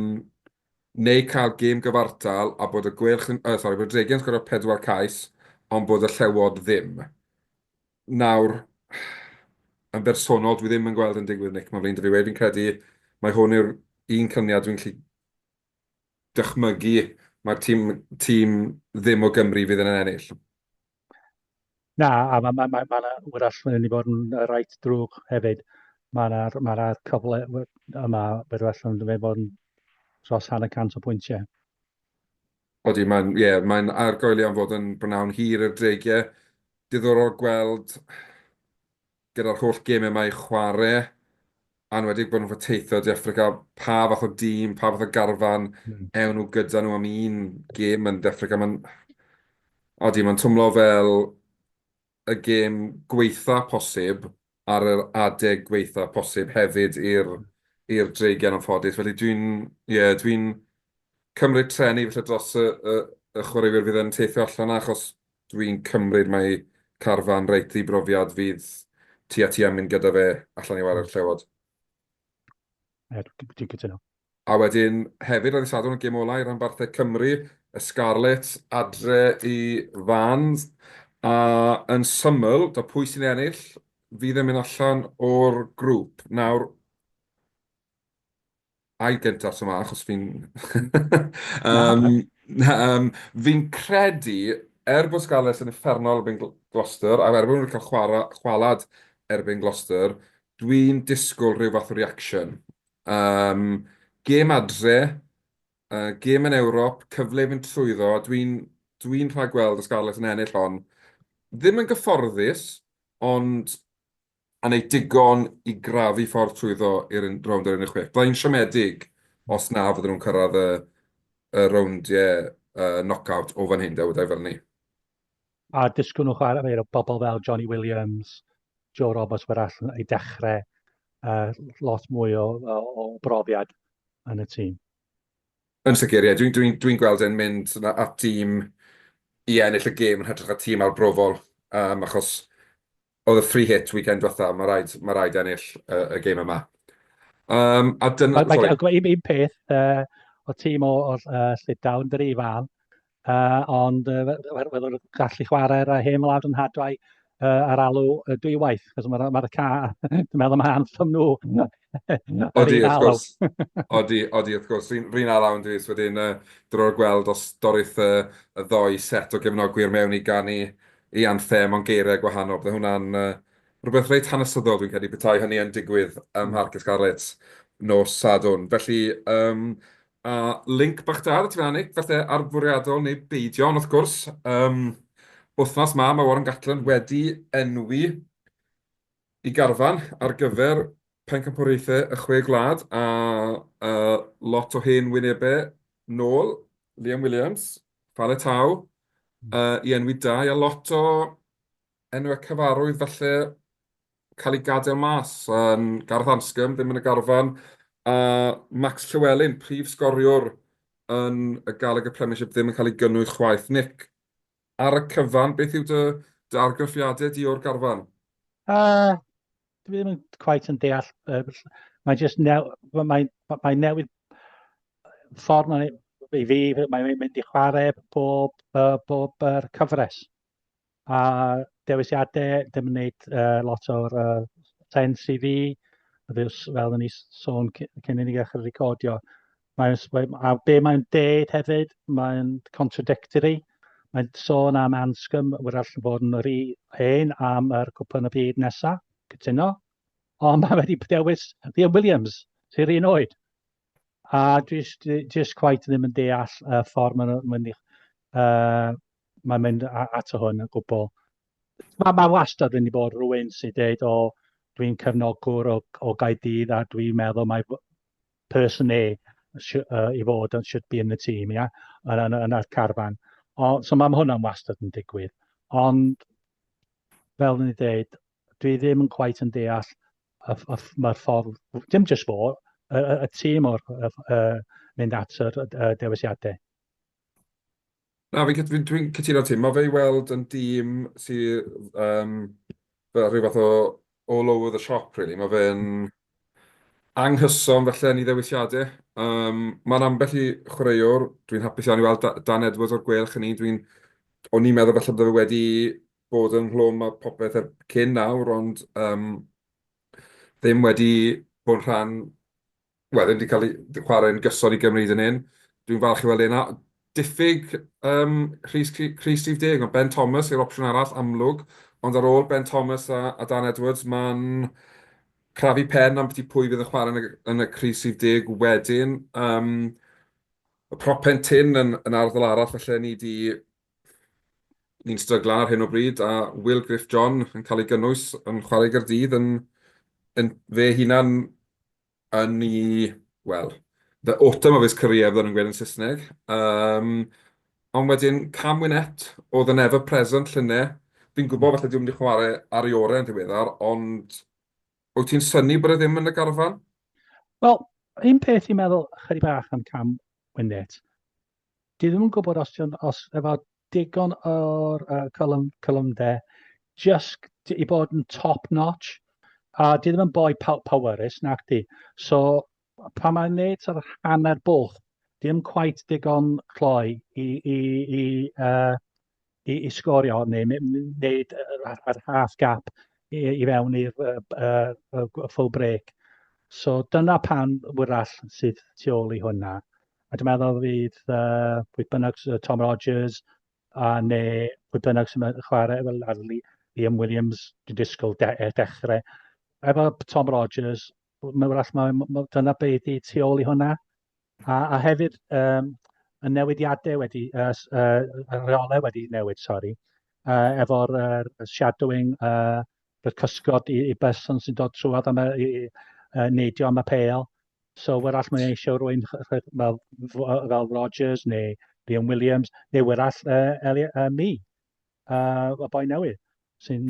neu cael gêm gyfartal a bod y Gweilch yn, uh, sori, bod y Dregiau'n sgorio pedwar cais, ond bod y Llewod ddim. Nawr, yn bersonol, dwi ddim yn gweld yn digwydd, Nick, mae'n flin dy fi wedi, fi'n credu mae hwn yw'r un cyniad dwi'n gallu dychmygu mae'r tîm, tîm ddim o Gymru fydd yn ennill. Na, a mae ma, ma, ma 'na wrach yn mynd i fod yn yy reit drwg hefyd. Ma' 'na ma' 'na cyfle we- yma bydd well yn mynd i fod yn dros hanner cant o bwyntiau. Odi, mae'n, ie, mae'n argoeli am fod yn bnawn hir i'r dreigiau. Diddorol gweld gyda'r holl gemau yma i chwarae, anwedig bod nhw'n ffa teithio De Affrica, pa fath o dîm, pa fath o garfan ewn nhw gyda nhw am un gem yn De Affrica. Mae'n... Odi, mae'n twmlo fel y gem gweitha posib ar yr adeg gweitha posib hefyd i'r i'r Dreigiau yn anffodus. Felly dwi'n, ie, dwi'n cymryd treni falle dros y y y chwaraewyr fydd yn teithio allan 'na achos Dwi'n cymryd mai carfan reit ddibrofiad fydd ti a ti am mynd gyda fe allan i warae'r Llewod. Ie, dwi'n cytuno. A wedyn hefyd ar y Sadwrn y gêm olau rhanbarthau Cymru, y Scarlets adre i Fans, a yn syml, do pwy sy'n ennill fydd yn mynd allan o'r grŵp. Nawr, A i gyntaf ta ma, achos fi'n... Fi'n credu, er bod Scarlets yn uffernol erbyn Gloucester, a er bod nhw wedi cael chwarae chwaled erbyn Gloucester, dwi'n disgwyl rhyw fath o reaction. Gêm adre, gêm yn Ewrop, cyfle i fynd trwyddo, dwi'n rhagweld y Scarlets yn ennill hon. Ddim yn gyfforddus, ond A wneud digon i grafu ffordd trwyddo i'r un- rownd yr 16. Bydda i'n siomedig os na fydden nhw'n cyrraedd y y rowndiau yy knock-out o fan hyn de, weda i fel 'ny. A disgwyl nhw chwarae efo bobl fel Johnny Williams, Joe Roberts wrach i dechrau, yy lot mwy o o o brofiad yn y tîm. Yn sicr ie, dwi'n dwi'n dwi'n gweld e'n mynd na- at dîm i ennill y gêm yn hytrach na tîm arbrofol, yym achos Oedd y free hit weekend diwetha, mae rhaid, mae rhaid ennill uh, y game yma. Um, a dyna... Mae gen i un peth uh, o tîm o, o uh, Llydawn, dyr i fan, uh, ond uh, wedyn gallu chwarae'r uh, hen wlad yn hadwau uh, ar alw uh, dwywaith, cos mae'r ma ca, dwi'n meddwl mae anthem nhw. Odi, wrth gwrs. Odi, odi, wrth gwrs. Rhyn ar lawn dwi, wedyn uh, drwy'r gweld os dorith uh, y ddoi set o gefnogwyr mewn i ganu ei anthem mewn geiriau gwahanol. Byddai hwnna'n rhywbeth reit hanesyddol dwi'n credu, petai hynny yn digwydd ym Mharc y Scarlets nos Sadwrn. Felly, yym, a linc bach da 'da ti fan'na Nick, falle ar fwriadol neu beidio, ond wrth gwrs, yym, wythnos 'ma mae Warren Gatland wedi enwi Y garfan ar gyfer Pencampwriaethau y Chwe Gwlad a lot o hen wynebau nôl, Liam Williams, Fale Tau, i enwi dau, a lot o enwau cyfarwydd falle cael eu gadael mas, Gareth Anscombe ddim yn y garfan, a Max Llewelyn, prif sgoriwr yn y Gallagher Premiership ddim yn cael ei gynnwys chwaith. Nick, Ar y cyfan, beth yw dy, dy argraffiadau di o'r garfan? Uh, dwi ddim yn quite yn deall. Uh, mae jyst new, mae, mae newid ffordd mae, i fi, mae'n mynd i chwarae bob, uh, bob uh, cyfres. A dewisiadau, dim yn gwneud uh, lot o'r uh, sens i fi, fel o'n i sôn cyn i ni ddechrau recordio. Mae'n, a be mae'n deud hefyd, mae'n contradictory. Mae'n sôn am Anscombe, wrach yn bod yn yr hen am yr cwpan y byd nesaf, cytuno. Ond mae wedi dewis Liam Williams, sy'r un oed. A just, just quite ddim yn deall y ffordd mae'n mynd, uh, mae'n mynd ato hwn yn gwbl. Mae ma wastad wedi bod rhywun sy'n dweud, o, dwi'n cefnogwr o, o Gaedydd a dwi'n meddwl mae person A uh, i fod yn should be yn y tîm, ia, yn, yn, yn yr carfan. O, so mae hwnna'n wastad yn digwydd. Ond, fel ni dweud, dwi ddim yn quite yn deall y, y, mae'r ffordd, dim jyst fo, y, y, y tîm o'r uh, mynd at y, y dewisiadau. Na, fi'n cyt- fi'n dwi'n cytuno â ti. Mae fe i weld yn dîm sy yym fel rhyw fath o all over the shop rili. Mae fe'n anghyson falle yn ei ddewisiadau. Yym, mae'n ambell i chwaraewr, dwi'n hapus iawn i weld Da- Dan Edwards o'r gwelch yn un dwi'n... o'n i'n meddwl falle bod e wedi bod ynghlwm â popeth er- cyn nawr ond yym ddim wedi bod yn rhan wel, ddim wedi cael ei chwarae'n gyson i Gymru hyd yn hyn. Dwi'n falch i weld e'n diffyg um, Rhys, Rhys Steve Deg, ond Ben Thomas yw'r opsiwn arall amlwg, ond ar ôl Ben Thomas a, a Dan Edwards, mae'n crafu pen am beth pwy fydd yn chwarae yn y, yn y Rhys Steve Deg wedyn. Um, y propen tin yn, yn arddol arall, felly ni wedi Ni'n stryglan ar hyn o bryd a Will Griff John yn cael ei gynnwys yn chwarae i Gaerdydd yn yn fe hunan yn i wel the autumn of his career fydden nhw'n gweud yn Saesneg. Um, ond wedyn Cam Winett oedd yn ever present llynne. Fi'n gwybod falle dwi'n mynd i chwarae ar ei orau yn ddiweddar, ond wyt ti'n syni bod e ddim yn y garfan? Wel, un peth i'n meddwl chydig bach am Cam Winett. Dwi ddim yn gwybod os ti'n os efo digon o'r uh, column, column de, just i bod yn top notch, a dwi ddim yn boi powerus nac di. So, pan mae'n neud sort of hanner bwlch, dim quite digon cloi i, i, i, uh, i, i sgorio hon neu wneud yr half gap i, i fewn i'r uh, uh, uh, full break. So dyna pan wyrall sydd tu ôl i hwnna. A dwi'n meddwl fydd uh, pwy bynnag Tom Rogers a neu pwy bynnag sy'n chwarae fel Arli, Liam Williams, dwi'n disgwyl de, e, dechrau. Efo Tom Rogers, mae'n wrach, mae, mae, dyna beth i tu ôl i hwnna. A, a hefyd, um, y newidiadau wedi, uh, uh, reolau wedi newid, sori, uh, efo'r uh, shadowing, uh, y cysgod i, i berson sy'n dod trwad am y, i, uh, neidio am y peil. So, wrach mae'n eisiau rwy'n fel, fel Rogers neu Liam Williams, neu wrach uh, Eli, uh, mi, uh, y boi newydd, sy'n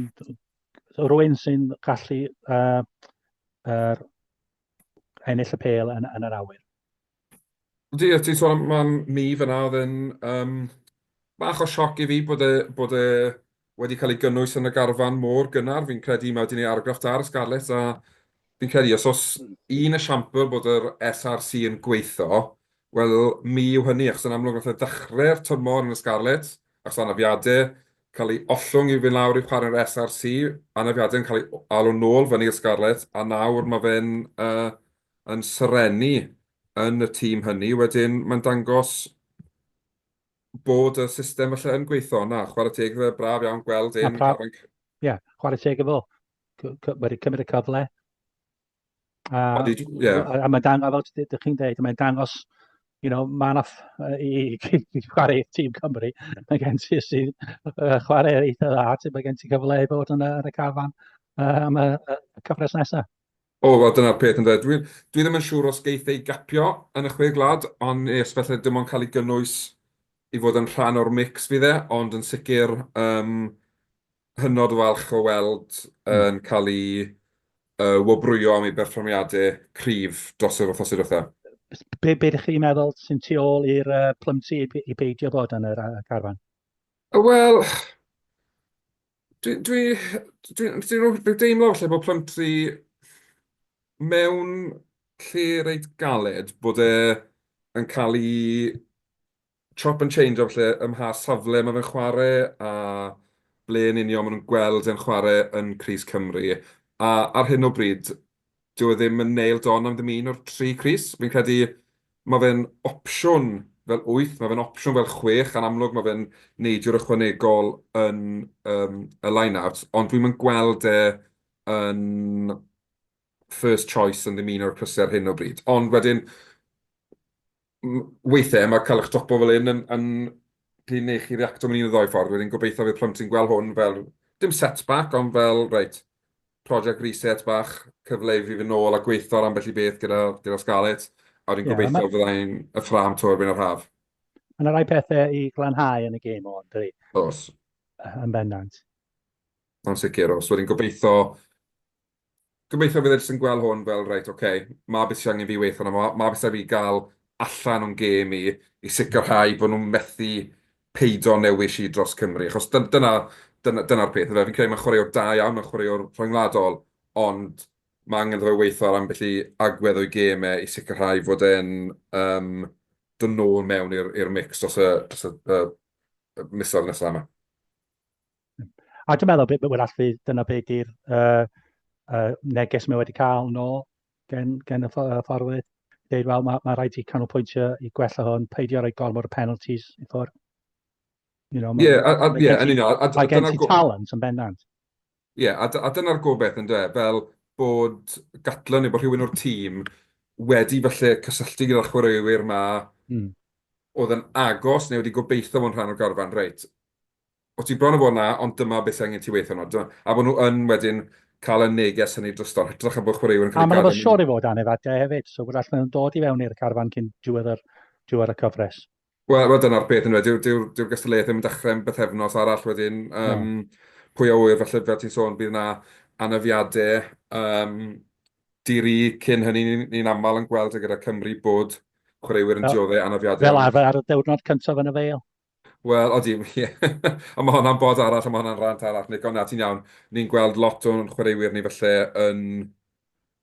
rwy'n sy'n gallu uh, uh, ennill y pêl yn, yn yr awyr. Ydy, a ti'n sôn am man mi fyna, oedd yn um, bach o sioc i fi bod e, bod e wedi cael ei gynnwys yn y garfan mor gynnar. Fi'n credu mae wedi gwneud argraff da ar y Scarlets a fi'n credu os oes un esiampl bod yr SRC yn gweithio, wel mi yw hynny, achos yn amlwg nath e ddechrau'r tymor yn y Scarlets, achos anafiadau, cael ei ollwng i fynd lawr i chwarae'r SRC, anafiadau'n cael ei alw nôl fyny i'r Scarlets, a nawr mae fe'n yn serennu yn y tîm hynny. Wedyn, mae'n dangos bod y system falle yn gweithio, na, chwarae teg iddo fe, braf iawn gweld e'n... Ie, chwarae teg iddo fo. Wedi cymryd y cyfle, A, yeah. a mae'n dangos, fel ydych chi'n dweud, mae'n dangos, you know, mae'n off i, i, i chwarae tîm Cymru. Mae gen ti sy'n uh, chwarae eitha dda, ti mae gen ti cyfle i fod yn, yn y cafan uh, am y, y cyfres nesaf. O, oh, well, dyna'r peth yn dweud. Dwi, dwi ddim yn siŵr os geith ei gapio yn y chwe glad, ond nes felly dim ond cael ei gynnwys i fod yn rhan o'r mix fi dde, ond yn sicr um, hynod o falch o weld yn cael ei wobrwyo am ei berfformiadau cryf dros yr wythnosau diwetha. Be, be ydych chi'n meddwl sy'n tu ôl i'r uh, plymsi i, i beidio bod yn yr uh, garfan? Wel, dwi'n dwi, dwi, dwi, dwi deimlo falle bod plymsi mewn lle reit galed bod e yn cael ei chop and change o falle ym mha safle mae fe'n chwarae a ble yn union maen nhw'n gweld e'n chwarae yn crys Cymru. A ar hyn o bryd, dyw e ddim yn nailed on am ddim un o'r tri crys. Fi'n credu mae fe'n opsiwn fel wyth, mae fe'n opsiwn fel chwech, yn amlwg mae fe'n neidwr ychwanegol yn yym y line-out, ond dwi'm yn gweld e yn first choice yn ddim un o'r crysau ar hyn o bryd. Ond wedyn, Weithiau mae cael eich topo fel hyn yn gallu gwneud chi reactio mewn un o ddou ffordd. Wedyn gobeithio fydd plant yn gweld hwn fel, dim setback, ond fel, reit, project reset bach, cyfle i fi fynd nôl a gweithio ar ambell i beth gyda Scarlett, a wedyn gobeithio fydda i'n y ffrâm 'to erbyn yr haf. Mae yna rai pethau i glanhau yn y gêm hwn, yn dydi? Oes. Yn bendant. Yn sicr, oes. Wedyn gobeithio Gobeithio bydd e jyst yn gweld hwn fel reit ok, ma beth sy angen fi weitho arno fo, ma beth sy angen fi gael allan o'n gêm i, i sicrhau bod nhw'n methu peido newis i dros Cymru. Achos dy- dyna, dyna, dyna'r peth yndyfe. Fi'n credu mae'n chwaraewr da iawn, mae'n chwaraewr rhyngwladol, ond ma angen iddo fe weitho ar ambell i agwedd o'i gêm e i sicrhau fod e'n um, dod nôl mewn i'r i'r mix dros y, dros y, y, y misoedd nesaf yma. A dwi'n meddwl bod hwnna allu... dyna be 'di'r yy yy neges mae wedi cael yn ôl gan gan y ff- ffordd, deud "wel ma' ma' raid ti canolbwyntio i gwella hwn, peidio rhoi gormod o penalties i ffwrdd". You know... Ie a a ie yn union a d- a dyna go-... Mae gen ti talent yn bendant. Ie a d- a dyna'r gobaith ynde, fel bod Gatland neu bod rhywun o'r tîm wedi falle cysylltu gyda'r chwaraewyr 'ma... Mm. ...oedd yn agos neu wedi gobeitho fod yn rhan o'r garfan, reit... O ti bron a bod 'na, ond dyma beth sydd angen ti weithio arno. A bod nhw yn wedyn cael y neges hynny drosto, hytrach a bod chwaraewyr yn cael ei gadael. A mae'n siwr i fod anef adau hefyd, so gwrach maen nhw'n dod i fewn i'r carfan cyn diwedd y cyfres. Wel, wel dyna'r peth yn wedi, dyw'r dyw gystadleuaeth ddim yn dechrau yn bythefnos arall wedyn, um, pwy a wyr, felly fel ti'n sôn, bydd yna anafiadau um, diri cyn hynny, ni'n ni aml yn gweld gyda Cymru bod chwaraewyr yn dioddau anafiadau. Fel arfer ar y dewrnod cyntaf yn y feil. Wel, odi, ie. A mae hwnna'n bod arall, a mae hwnna'n rant arall, Nick, ond na, ti'n iawn. Ni'n gweld lot o'n chwaraewyr ni falle yn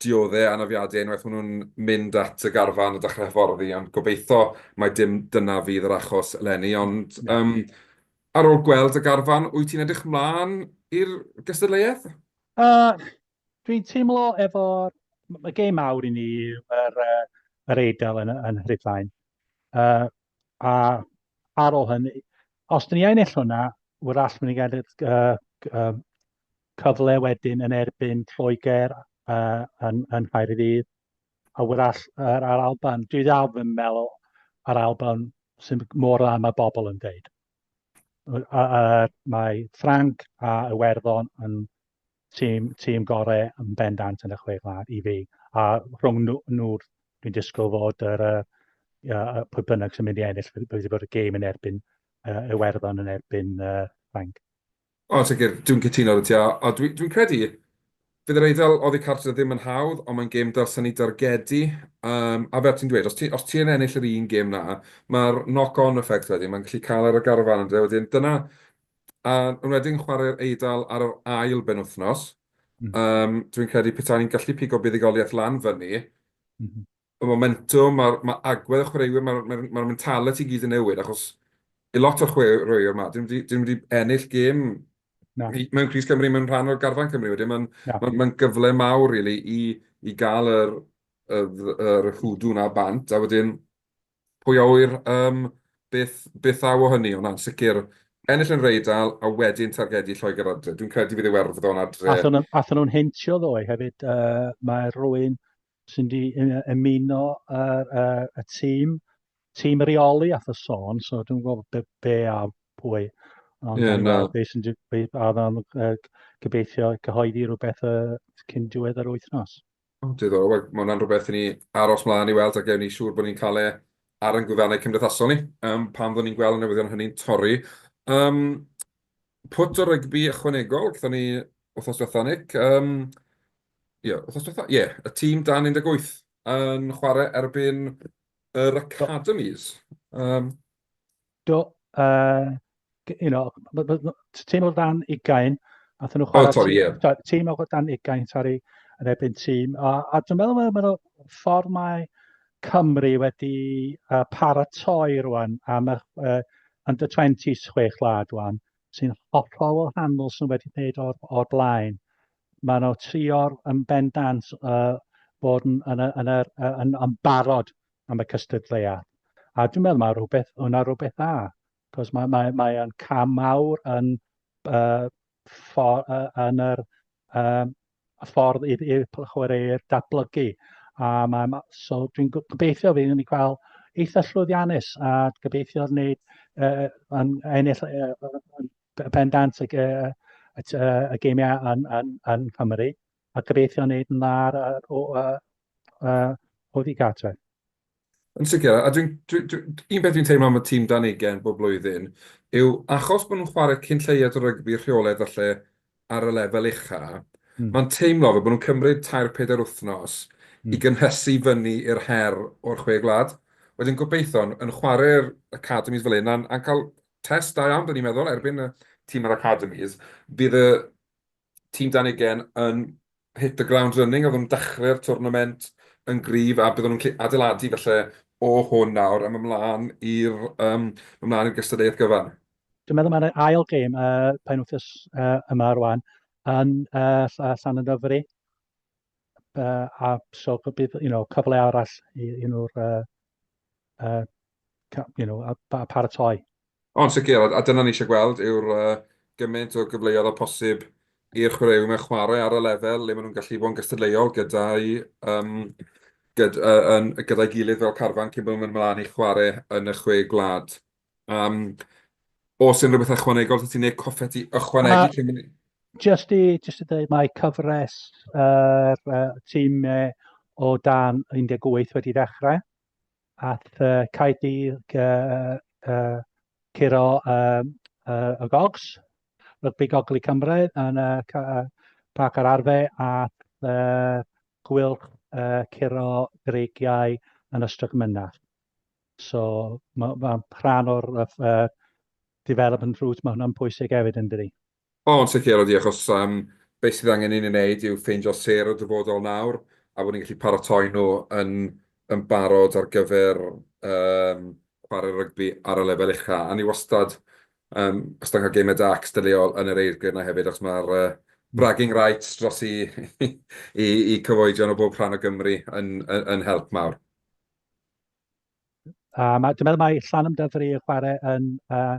dioddau anafiadau unwaith maen nhw'n mynd at y garfan a dechrau hyfforddi, ond gobeithio mai dim dyna fydd yr achos eleni. Ond um, ar ôl gweld y garfan, wyt ti'n edrych mlaen i'r gystadleuaeth? Uh, dwi'n teimlo efo'r... Mae gêm mawr i ni yw'r uh, yr Eidal yn, yn Rhydlaen. Uh, a ar ôl hynny, os dyn ni yn ennill hwnna, wrach mynd i gael uh, cyfle wedyn yn erbyn Lloegr uh, yn, yn Nghaerdydd, a wrach ar, ar Alban. Dwi ddal yn meddwl ar Alban sy'n mor dda mae bobl yn dweud. a, a, mae Frank a Iwerddon yn tîm, tîm gorau yn bendant yn y chwe glad i fi. A rhwng nhw, nhw dwi'n disgwyl fod yr, uh, pwy bynnag sy'n mynd i ennill, bydd wedi bod y gêm yn erbyn uh, Iwerddon yn erbyn uh, Frank. O, yn sicr, dwi'n cytuno 'da ti, a, a dwi, dwi'n credu, fydd yr Eidal oddi cartre ddim yn hawdd, ond mae'n gêm dylsen ni dargedu, um, a fel ti'n dweud, os, ti, os ti'n ennill yr un gêm na, mae'r knock-on effect wedyn, mae'n gallu cael ar y garfan yn dweud wedyn, dyna, a yn wedyn chwarae'r Eidal ar yr ail ben wythnos, mm. um, dwi'n credu peta'n ni'n gallu pigo buddigoliaeth lan fyny, mm -hmm. y momentwm, mae'r ma agwedd y chwaraewyr, mae'r ma ma mentality i gyd yn newid, achos i lot o'r chwaraewyr yma, dyn nhw wedi ennill gêm no. mewn Cris Cymru, mewn rhan o'r garfan Cymru wedyn, mae'n no. ma, ma gyfle mawr really, i, i gael yr, yr, yr hwdw na bant, a wedyn pwy a wyr um, beth, beth aw o hynny, ond na'n sicr ennill yn reidal a wedyn targedu Lloegr adre. Dwi'n credu fydd ei werfddo'n adre. Athyn nhw'n heintio ddoe hefyd, uh, mae rwy'n sy'n di ymuno yr, uh, y tîm, tîm reoli a y sôn, so dwi'n gwybod be, be a pwy. Ond yeah, no. be sy'n be, a dda'n uh, gobeithio cyhoeddi rhywbeth uh, cyn diwedd yr wythnos. O, diddorol. Wel, mae hwnna'n rhywbeth i ni aros mlaen i weld a gewn ni siŵr bod ni'n cael e ar yn gwyddanau cymdeithasol ni, um, pan fyddwn ni'n gweld y newyddion hynny'n torri. Um, pwt o rygbi ychwanegol, gyda ni wrthos diwethaf, Nick. Um, Ie, wythnos diwethaf? Ie, y tîm dan 18 yn chwarae erbyn yr Academis. Um... Do, uh, you know, tîm o dan 20, nath nhw chwarae... Oh, sorry, ie. Yeah. Tîm o dan 20, sorry, yn erbyn tîm. A, a dwi'n meddwl mae'n meddwl ffordd mae Cymru wedi uh, paratoi rwan am y uh, under 20 chwech lad rwan sy'n hollol wahanol sy'n wedi gwneud o'r, or blaen. maen nhw trio yn bendant uh, bod yn, yn, yn, yn, yn, yn barod am y cystadleuaeth. A dwi'n meddwl mae rhywbeth, hwnna rhywbeth dda, cos mae, mae, mae yn cam mawr yn, uh, for, uh, yn yr uh, ffordd i'r, i'r chwaraewyr datblygu. A mae, ma, so dwi'n gobeithio fi yn ei cael eitha llwyddiannus a gobeithio wneud uh, yn ennill uh, pendant y, y, y, y, y geimiau yn, yn, yn Cymru a gobeithio wneud yn lar o, o, o, o ddi gartref. Yn sicr, a dwi'n, dwi, dwi, un beth dwi'n teimlo am y tîm dan ugen bob blwyddyn yw achos bod nhw'n chwarae cyn lleiad o rygbi rheoledd falle ar y lefel ucha, mm. mae'n teimlo fe bod nhw'n cymryd tair pedair wythnos mm. i hmm. gynhesu fyny i'r her o'r chwe gwlad. Wedyn gobeithio'n yn chwarae'r academis fel un a'n, cael test da iawn, dyn ni'n meddwl, erbyn y tîm yr academis. Bydd y tîm dan ugen yn hit the ground running, oedd nhw'n dechrau'r twrnament yn gryf, a byddwn nhw'n adeiladu felly o hwn nawr am ymlaen i'r um, ymlaen i'r gystadleuaeth gyfan. Dwi'n meddwl mae'r ail gêm y uh, penwthus uh, yma rwan yn uh, Llan y Dyfri. Uh, a so bydd you know, cyfle arall i, i nhw'r uh, uh, you know, a, a paratoi. Ond sicr, a dyna ni eisiau gweld yw'r uh, gymaint o gyfleoedd o posib i'r chwaraewyr mewn chwarae ar y lefel le maen nhw'n gallu bod yn gystadleuol gyda'i um, gyd, uh, yn, gyda'i gilydd fel carfan cyn bod nhw'n mynd ymlaen i chwarae yn y chwe gwlad. Um, os yn rhywbeth ychwanegol, ti'n gwneud coffet i ychwanegu? Uh, cyn... Just i, just i dweud, mae cyfres yr uh, uh, tîm uh, o dan 18 wedi ddechrau. Aeth Caerdydd curo y gogs, rygbi gogl i Cymru yn y Parc yr Arfe aeth Gwyl curo Greigiau yn Ystrad Mynach. So mae'n rhan o'r development route, mae hwnna'n pwysig hefyd yn dydi? O, yn sicr, ydy, achos um, beth sydd angen ni'n ei wneud yw ffeindio ser y dyfodol nawr, a bod ni'n gallu paratoi nhw yn, yn barod ar gyfer um, chwarae rygbi ar y lefel ucha. A ni wastad, um, os da cael gemau da cystadleuol yn yr eirgrydd yna hefyd, achos mae'r uh, bragging rights dros i, i, i cyfoedion o bob rhan o Gymru yn, yn, yn help mawr. Uh, mae, dwi'n meddwl mae Llan Ymdafri yn chwarae yn uh,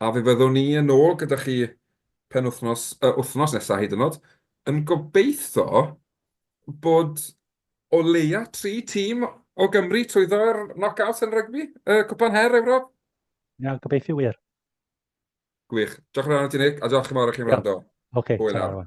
A fe fyddwn ni yn ôl gyda chi penwythnos, yy, wythnos nesa hyd yn o'd, yn gobeitho bod o leia tri tîm o Gymru trwyddo'r knock-outs yn rygbi, yy, Cwpan Her Ewrop. Ia, gobeithio wir. Gwych. Diolch yn fawr i ti, Nick, a diolch yn fawr i chi'n wrando. Oce, ta-ra.